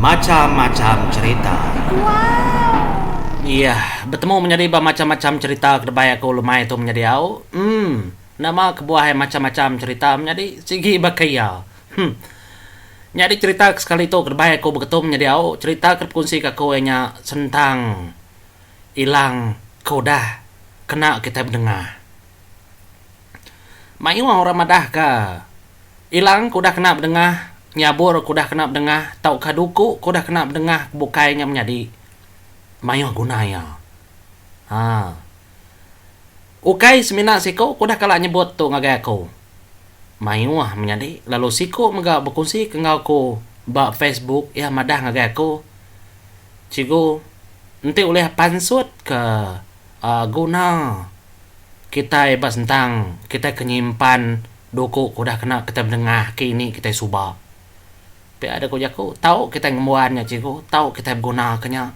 Macham-macham cherita. Iah, betemu menyadi ba macham-macham cherita ke debai aku lemai tu menyadi au. Emm, enda mau kebuah ai macham-macham cherita menyadi sigi baka iya. Hum. Nyadi cherita ke sekali tu ke debai aku begetum menyadi au, cherita ke dipekunsi ke aku iya nya sentang ilang ke udah kena kitai bedengah. Mayuh orang madahka. Ilang ke udah kena bedengah, nyabur ke udah kena bedengah tauka duku ke udah kena bedengah ke bukai nya menyadi mayuh guna iya. Ha. Ukai semina siku ke udah kala nyebut tu ngagai aku. Mayuh menyadi lalu siku mega bekunsika enggau aku ba Facebook iya madah ngagai aku, Cikgu, enti ulih pansutka uhh guna kitai ba sentang kitai ke nyimpan Duku ke udah kena kitai bedengah ke ini kitai suba. Pia deh ku jaku, tau kitai ngembuan nya cikgu, tau kitai beguna ke nya.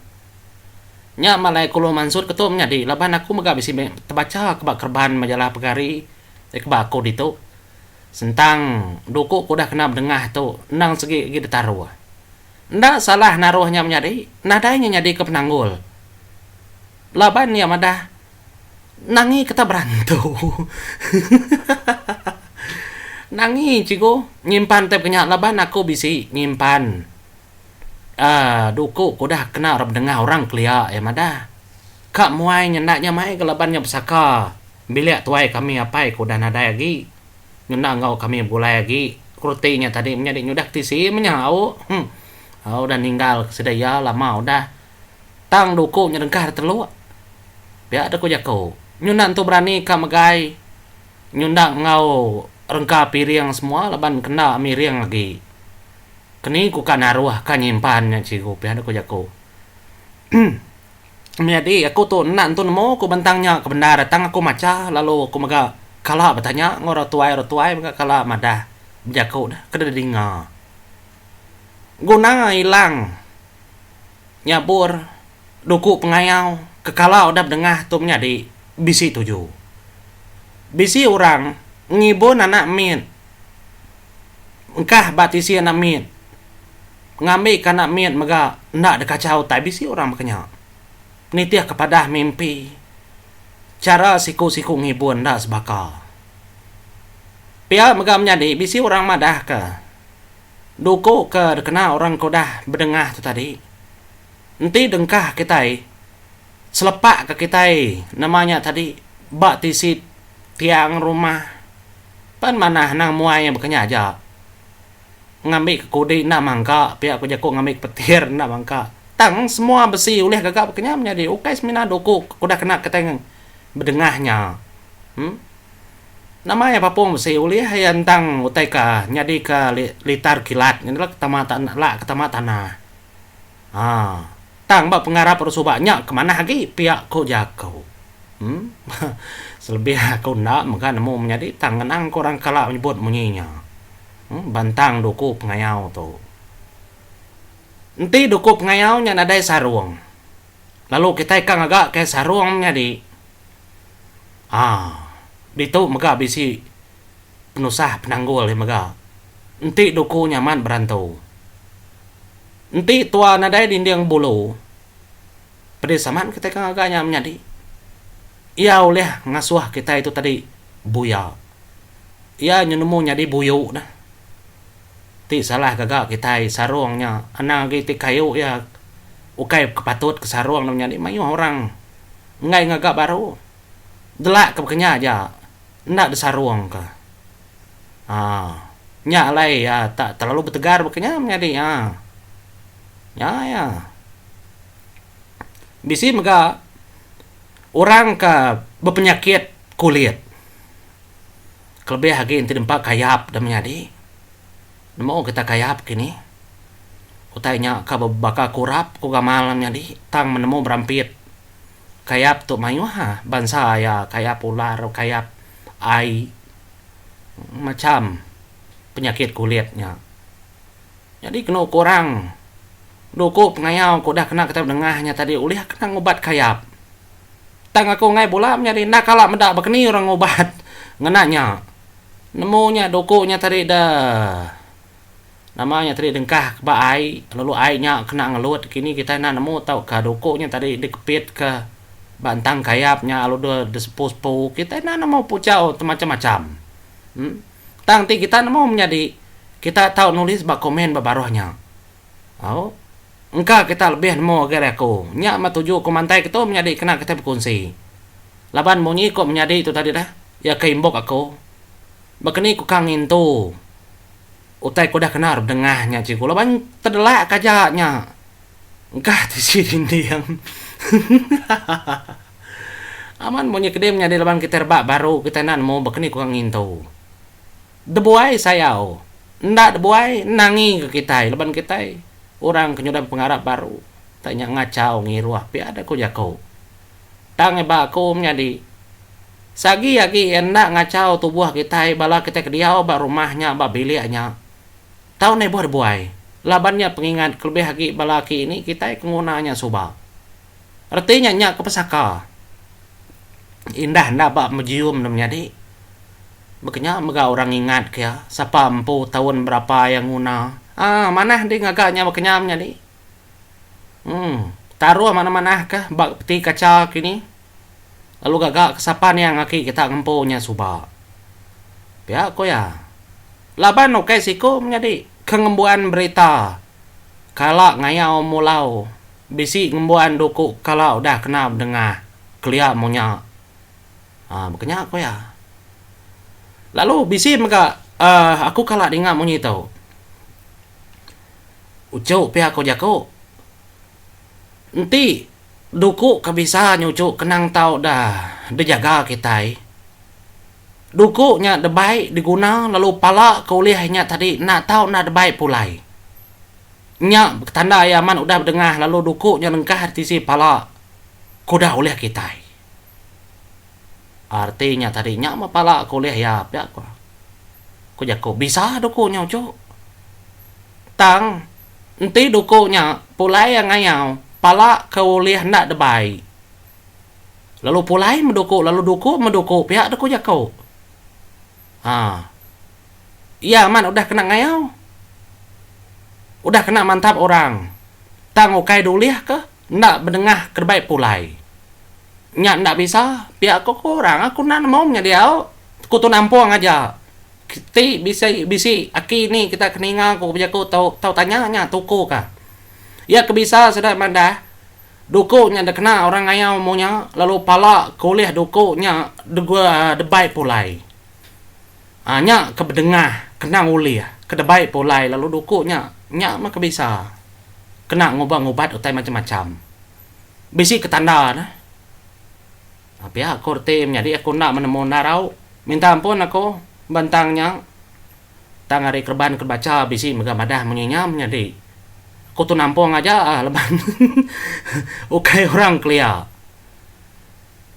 Nya mah alai Kulu Mansut ketu menyadi laban aku mega bisi meh tebacha ke ba kereban majalah pegari ti ke ba aku ditu. Sentang duku ke udah kena bedengah tu endang segi agi ditaruh. Enda salah naruh nya menyadi, nadai nya nyadika penanggul laban iya madah. Nangi kita berantu. Nangi cikgu nyimpan tip ke nya laban aku bisi nyimpan aaa duku ke udah kena ra bedengah orang kelia iya madah. Ka muai nyenda nya mai ga laban nya besaka bilik tuai kami apai ke udah nadai agi ngena enggau kami begulai agi ku reti nya tadi menyadi nyudah ke tisi menyau. Hum. Au udah ninggal ke sida iya lama udah. Tang duku nya dengkah da teluk. Pia da ku jaku, nyunda entu berani ka megai nyunda enggau rengka piring semua laban kenda miring agi. Keni ku ka naruh ka nyimpan nya cikgu pia da ku jaku. Uhm menyadi aku tu enda entu nemu ku bentang nya ke bendar tang aku macha lalu ku mega kala betanya enggau orang tuai orang tuai mega kala madah bejaku da ke didinga. Guna ilang. nyabur duku pengayau ke kala udah bedengah tu menyadi bisi tuju. Bisi orang ngibun anak mit engkah ba tisi anak mit ngambika anak mit mega enda dekacha utai bisi orang baka nya nitihka padah mimpi chara siku-siku ngibun enda sebaka. Pia mega menyadi bisi orang madahka. Duku ke dikena orang ke udah bedengah tu tadi enti dengkah kitai selepak ke kitai nama nya tadi ba tisi tiang rumah pan manah anang muai iya bakanya aja ngambi ke kudi enda mangka pia ku jaku ngambi ke petir enda mangka tang semua besi ulih gaga bakanya menyadi ukai semina duku ke udah kena kitai bedengah nya em. Nama iya bapung besi ulih iya endang utai ka nyadi ka litar kilat ngini la ketama la ketama tanah. Haa tang ba pengarap orang suba nya ke manah agi pia ku jaku. Em selebih aku enda mega nemu menyadi tang ngenang ku orang kala nyebut munyi nya. Em bantang duku pengayau tu. Enti duku pengayau nya nadai sarung lalu kitai ka ngaga kai sarung menyadi. aa ditu mega bisi penusah penanggul iya mega enti duku nya amat berantu enti tua nadai dinding bulu pedis amat kitai ke ngaga nya menyadi iya ulih ngasuh kitai tu tadi buya iya nemu nyadi buyu neh ti salah gaga kitai sarung nya anang agi ti kayu iya ukai ke patut ke sarung mayuh orang. enggai ngaga baru delak ke bekenya aja enda disarung ka aa nya alai iya tak terlalu betegar bekenya menyadi nya nya iya bisi mega orang ke bepenyakit kulit kelebih agi enti nempa kayap da menyadi. Nemu getah kayap kini. Utai nya ka baka kurap ku gamal nyadi tang menemu berampit. Kayap tu mayuh bansa iya kayap ular kayap ai macham penyakit kulit nya. Nyadi kenu ku orang duku pengayau ku udah kena kita dengah nya tadi ulih ka ngubat kayap. Tang aku enggai bula menyadi enda kala meda bakani orang ngubat ngena nya. Nemu nya doku nya tadi da nama nya tadi dengkah ke ba ai lalu ai nya kena ngelut kini kitai enda nemu tauka doku nya tadi dikepitka ba entang kayap nya lalu da disepu-sepu kitai enda nemu pujau ti macam-macam. Em tang ti kita nemu menyadi kita tau nulis ba komen ba baruh nya. Au Engka kita lebih nemu agi ari aku. Nya meh tuju aku mantai kitu menyadi kena kitai bekunsi. Laban munyi ku menyadi tu tadi dah, iya ke imbuk aku. Bakani ku ka ngintu utai ku udah kena bedengah nya cikgu laban tedelak ka aja nya engka tisi dinding. Amat munyi kedi menyadi laban kitai rebak baru kitai enda nemu bakani ku ka ngintu. Debuai sayau. Enda debuai nangi ke kitai laban kitai orang ke nyudah bepengarap baru tang nya ngachau ngiruh pia deh ku jaku. Tang iba aku menyadi sagi agi iya enda ngachau tubuh kitai bala kitai ke diau ba rumah nya ba bilik nya tau nebuh debuai laban nya pengingat kelebih agi bala aki ini kitai ke nguna nya suba. Reti nya nya ke pesaka indah enda ba mejium ne menyadi. Baka nya mega orang ngingat ke iya sapa empu taun berapa iya nguna. Aa manah dih ngaga nya baka nya menyadi. Emm taruh manah-manah ka ba peti kaca kini lalu gaga ke sapa niang aki kita ngempu nya suba. Pia ku iya. Laban ukai siku menyadi ke ngembuan berita kala ngayau mulau bisi ngembuan duku kala udah kena bedengah kelia munyak. Ah, baka nya ku iya. Lalu bisi mega ah, aku kala ninga munyi tu. Uchu pia ku jaku. Enti duku ke bisa nyuchu kenang tau da dijaga kitai. Duku nya debai diguna lalu pala ke ulih inya tadi enda tau enda debai pulai. Nya betanda iya amat udah bedengah lalu duku nya lengkah di tisi pala ku da ulih kitai. Arti nya tadi nya meh pala aku ulih iya pia ko. Ku jaku bisa duku nya uchu. Tang enti duku nya pulai iya ngayau pala ke ulih enda debai lalu pulai meh duku lalu duku meh duku pia duku jaku. Haa iya amat udah kena ngayau udah kena mantap orang tang ukai dulih ka. Enda benengah kerebai pulai. Nya enda bisa, pia aku ku orang aku enda nemu menya diau, ku Tun Ampong aja. Ti bisi bisi aki ni kita ke ninga ku bejaku tau tau tanya nya tuku ka. Iya ke bisa sida madah duku nya dikena orang ngayau amu nya lalu pala ke ulih duku nya degua debai pulai. Aa nya ke bedengah kena ulih ke debai pulai lalu duku nya nya meh ke bisa kena ngubah ngubat utai macam macam. Bisi ke tanda ne aa pia aku reti menyadi aku enda menemu enda rau minta ampun aku ben tang nya tang ari kereban ke bacha bisi mega madah munyi nya menyadi aku tu nampung aja aa laban ukai orang kelia.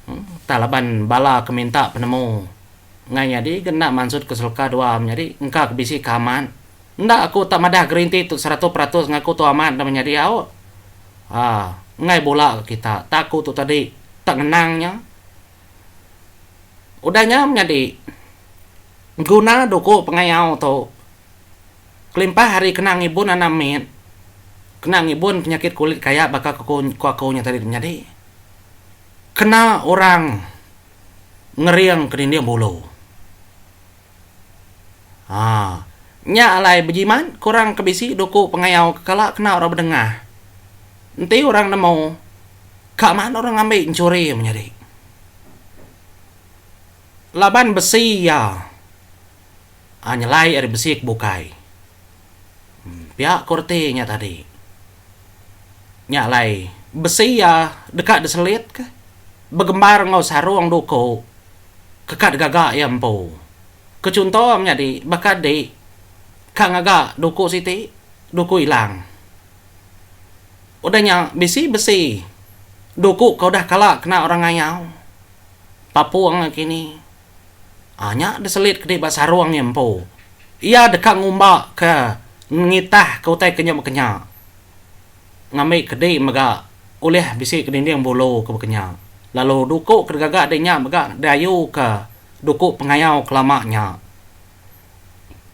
Entah laban bala ke minta penemu. Ngai nyadi ke enda mansut ke selka dua am nyadi engka ke bisi ke amat. Enda aku tak madah gerinti tu seratus peratus ngaku tu amat enda menyadi au. Ha, enggai bula ke kita tak aku tu tadi tak ngenang nya. Udah nya menyadi guna duku pengayau tu kelimpah ari kena ngibun anak mit, kena ngibun penyakit kulit kaya baka ke ku aku nya tadi tu menyadi kena orang. ngering ke dinding bulu. Haa. Nya alai bejimat ke orang ke bisi duku pengayau ke kala kena orang bedengah. Enti orang nemu, ka maan orang ngambi enchuri menyadi. Laban besi iya aa nyelai ari besi ke bukai. Pia ko reti nya tadi. Nya alai besi iya deka diselitka begembar enggau sarung duku ke ka digaga iya empu. Ke chunto menyadi baka di ka ngaga duku siti, duku ilang. Udah nya bisi besi duku ke udah kala kena orang ngayau, papung nakini. Nya diselit kedi ba sarung iya empu. Iya deka ngumbaka ngitahka utai ke nya bakanya ngambi kedi mega ulih bisi ke dinding bulu ke bakanya lalu duku ke digaga di nya mega diayuka duku pengayau ke lama nya.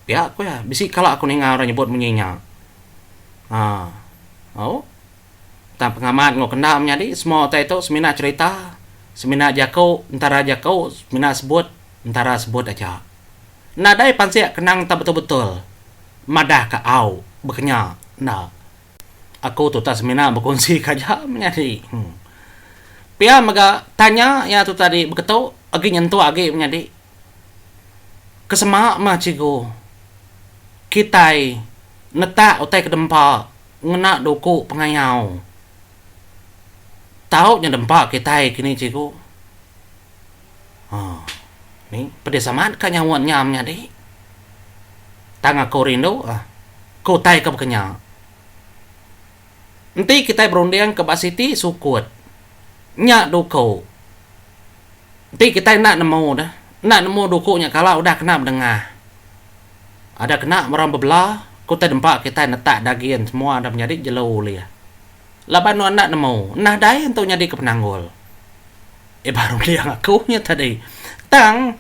Pia ku iya, bisi kala aku ninga orang nyebut munyi nya. Aa. Au. tang pengamat enggau kendang menyadi semua utai tu semina cherita, semina jaku entara jaku, semina sebut entara sebut aja. Nadai pansik kenang tau betul-betul madah ka au bekenya enda. Aku tuta semina bekunsi ka aja menyadi. Pia mega tanya ia tu tadi beketu agi nyentuk agi menyadi. Ke sema meh cikgu kitai netak utai ke dempa ngena duku pengayau. Tau nya dempa kitai kini cikgu. Haa ni pedis amat ka nyaut nya am nyadi. Tang aku rindu ah ke utai ke baka nya. Enti kitai berunding ke ba siti sukut nya duku. Enti kitai enda nemu deh, enda nemu duku nya kala udah kena bedengah. Ada kena orang bebela, ku utai dempa kitai netak dagin semua dah menyadi jelu ulih. Laban nuan enda nemu, nah dai entu nyadika penanggul. Iban runding aku nya tadi. Tang,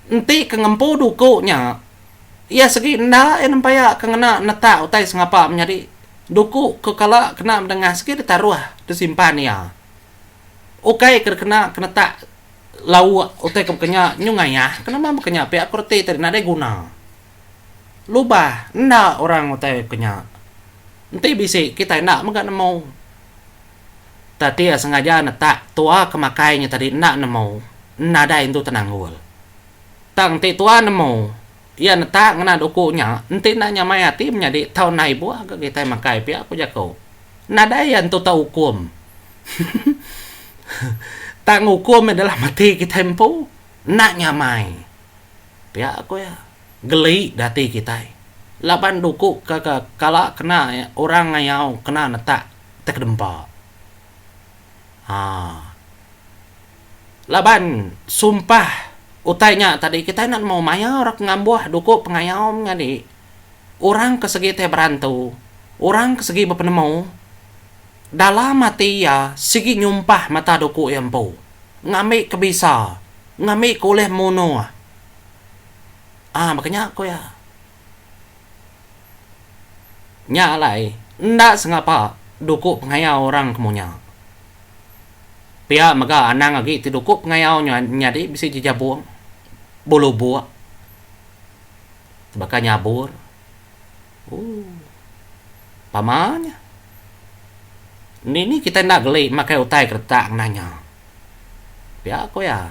enti ke ngempu duku nya, iya segi enda iya nempaya ke ngena netak utai sengapa menyadi duku ke kala kena bedengah sigi ditaruh disimpan iya. Ukai ke kena kenetak lauk utai ke baka nya nyu ngayah ke nama baka nya pia aku reti tadi nadai guna. Lubah enda orang utai baka nya. Enti bisi kitai enda mega nemu. Tati iya sengaja netak tua ke makai nya tadi enda nemu nadai entu tenanggul. Tang enti tua nemu Iya netak ngena duku nya, enti enda nya mai ati menyadi tau nai ibuh ga kitai makai pia ku jaku. Nadai iya entu tau ukum. Tang ukum iya dalam ati kitai empu, enda nya mai. Pia ku iya. Geli da ati kitai. Laban duku ke ke kala kena orang ngayau kena netak tekedempa. Haa. Laban sumpah utai nya tadi kitai enda nemu maya orang ke ngambuh duku pengayaum nyadi orang ke segi tai berantu, orang ke segi bepenemu dalam ati iya sigi nyumpah mata duku iya empu ngambi ke bisa, ngambi ke ulih munuh. Aa baka nya ku iya. Nya alai, enda sengapa duku pengayau orang ke munya. Pia mega anang agi ti duku pengayau nyadi bisi jejabung, belubuk, baka nyabur. Ooh. Pama nya. Indi ni kitai enda geli makai utai keretak ngena nya. Pia ku iya.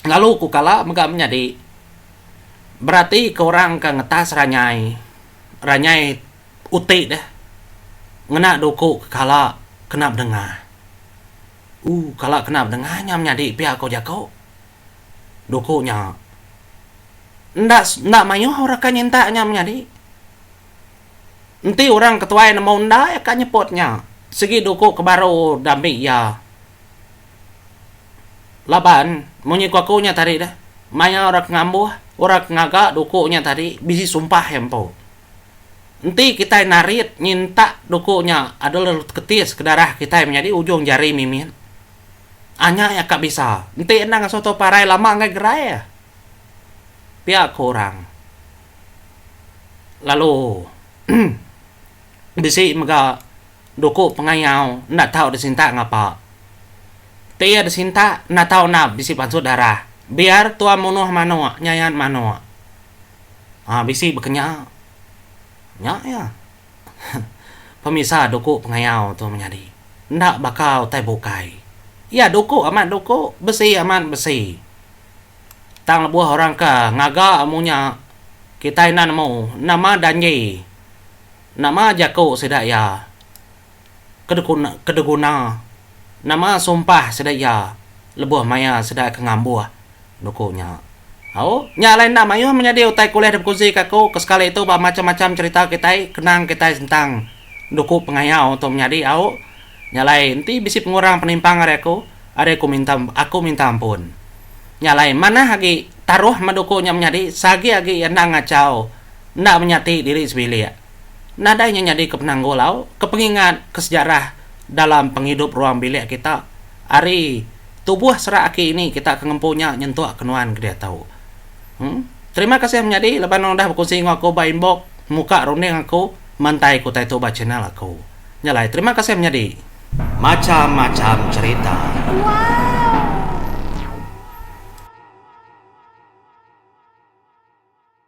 Lalu ku kala mega menyadi. berati ke orang ke ngetas ranyai ranyai uti deh ngena duku ke kala kena bedengah ooh kala kena bedengah nya menyadi pia ko jako duku nya enda enda maioh orang ke nyinta nya menyadi enti orang ketuai nemu enda iya ka nyebut nya sigi duku ke baru da ambi iya. Laban, munyi ku aku nya tadi dah, maya orang ke ngambuh, orang ke ngaga duku nya tadi bisi sumpah iya empu. Enti kitai narit nyinta duku nya ada lalu teketis ke darah kitai menyadi ujung jari mimit, anya iya ka bisa. Enti endang ngasuh tu parai lama enggai gerai iya. Pia ku orang. Lalu bisi mega Duku pengayau enda tau disintak ngapa. Ti iya disintak enda tau nap bisi pansut darah. Biar tua munuh manuk nyayat manuk. Haa bisi bekenya. Nya iya. Pemisa duku pengayau tu menyadi. Enda baka utai bukai. Iya duku amat duku, besi amat besi. Tang lebuh orang ke ngaga amu nya kitai enda nemu nama janji. Nama jaku sida iya? Kedeguna? Nama sumpah sida iya lebuh maya sida ke ngambuh nuku nya? Au, nya alai enda mayuh menyadi utai ke ulih dibekunsi ka aku, ke sekali tu ba macham-macham cherita kitai, kenang kitai sentang nuku pengayau tu menyadi, au. Nya alai enti bisi pengurang penimpang ari aku, ari aku minta aku minta ampun. Nya alai manah agi taruh meduku nya menyadi, sagi agi iya enda ngachau. enda menyati diri sebilik. Nadai nya nyadi ke penanggul au ke pengingat ke sejarah dalam pengidup ruang bilik kita ari tubuh serak aki ini kita ke ngempu nya nyentuk ke nuan ke diatu. Em. Terima kasih menyadi laban nuan udah bekunsi enggau aku ba inbox muka runding aku mantai ke utai tu ba channel aku. Nya alai terima kasih menyadi. Macham macham cerita wow.